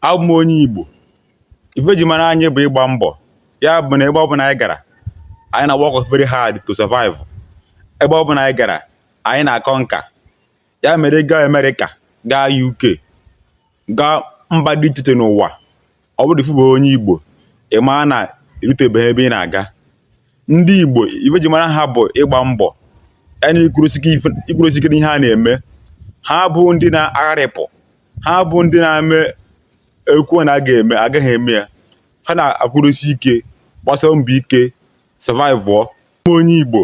abụ m onye Igbo ife eji mara anyị bụ ịgba mbọ ya bụ na ebe ọbụla anyị gara anyị na work very hard to survive ebe ọbụla anyị gara anyị na-akọ nka ya mere ịga Amerịka gaa UK gaa mba dị iche iche n'ụwa ọ bụrụ ị fụbeghị onye Igbo ị maa na erutebeghị ebe ị na-aga ndị Igbo ife eji mara ha bụ ịgba mbọ ya na ịkwụrụsi ike n'ihe a na-eme ha bụ ndị na-agharịpụ ha bụ ndị na-eme e kwuo na a ga-eme aga ha eme ya ha na-akwụrụsi ike gbasie mbọ ike survive onye igbo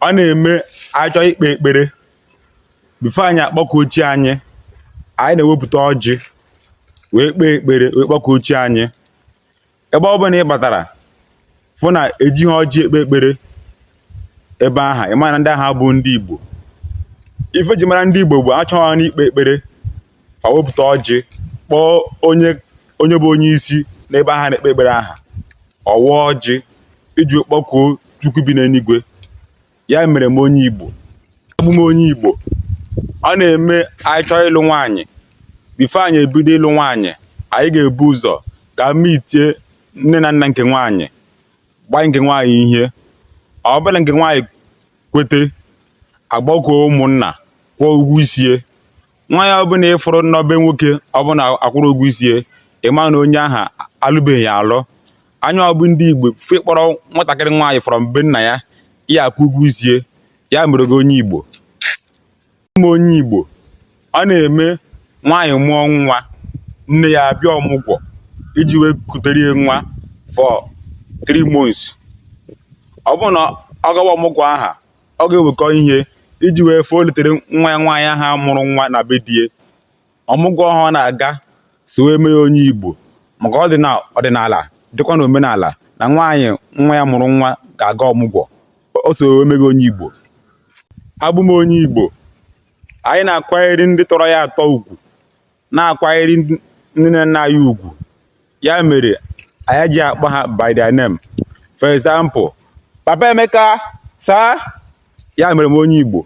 ọ na-eme a chọọ ikpe ekpere before anyị akpọkuo chi anyị anyị na-ewepụta ọjị wee kpee ekpere wee kpọkuo chi anyị ebe ọ bụla ị batara fụ na eji ha ọjị ekpe ekpere ebe aha ị mara na ndị aha bụ ndị igbo ife eji mara ndị igbo bụ a chọwa n'ikpe ekpere fa wepụta ọjị kpọọ onye onye bụ onye isi n'ebe aha na-ekpe ekpere aha ọ waa ọjị iji kpọkuo chukwu bi n'eluigwe ya mere m onye Igbo abụ m onye Igbo ọ na-eme anyị chọọ ịlụ nwaanyị before anyị ebido ịlụ nwaanyị anyị ga-ebu ụzọ gaa meetie nne na nna nke nwaanyị gbaa nke nwaanyị ihe ọ bụrụ na nke nwaanyị kwete a gbakọọ ụmụnna kwụọ ụgwọ isie nwaanyị ọbụla ịfụrụ na be nwoke ọ bụrụ na akwụrọ ụgwọ isi ya ịma na onye ahụ alụbeghị ya alụ anyị bụ ndị igbo before ị kpọrọ nwatakịrị nwaanyị from be nna ya ya akwụ ụgwọ isi ya ya mere gị onye igbo abụ m onye igbo ọ na-eme nwaanyị mụọ nwa nne ya abịa ọmụgwọ iji wee kutere ya nwa for three months ọ bụrụ na ọ gawa ọmụgwọ aha ọ ga-ewekọ ihe iji wee fee olitere nwa ya nwaanyị aha mụrụ nwa na be di ya ọmụgwọ aha ọ na-aga so wee mee gị onye igbo maka ọ dị na ọdịnala dịkwa na omenala na nwaanyị nwa ya mụrụ nwa ga-aga ọmụgwọ o so wee mee gị onye igbo abụ m onye igbo anyị na-akwanyere ndị tọrọ anyị atọ ugwu na-akwanyere ndị nne na nna anyị ugwu ya mere anyị ji akpọ ha by their name for example papa emeka sir ya mere m onye igbo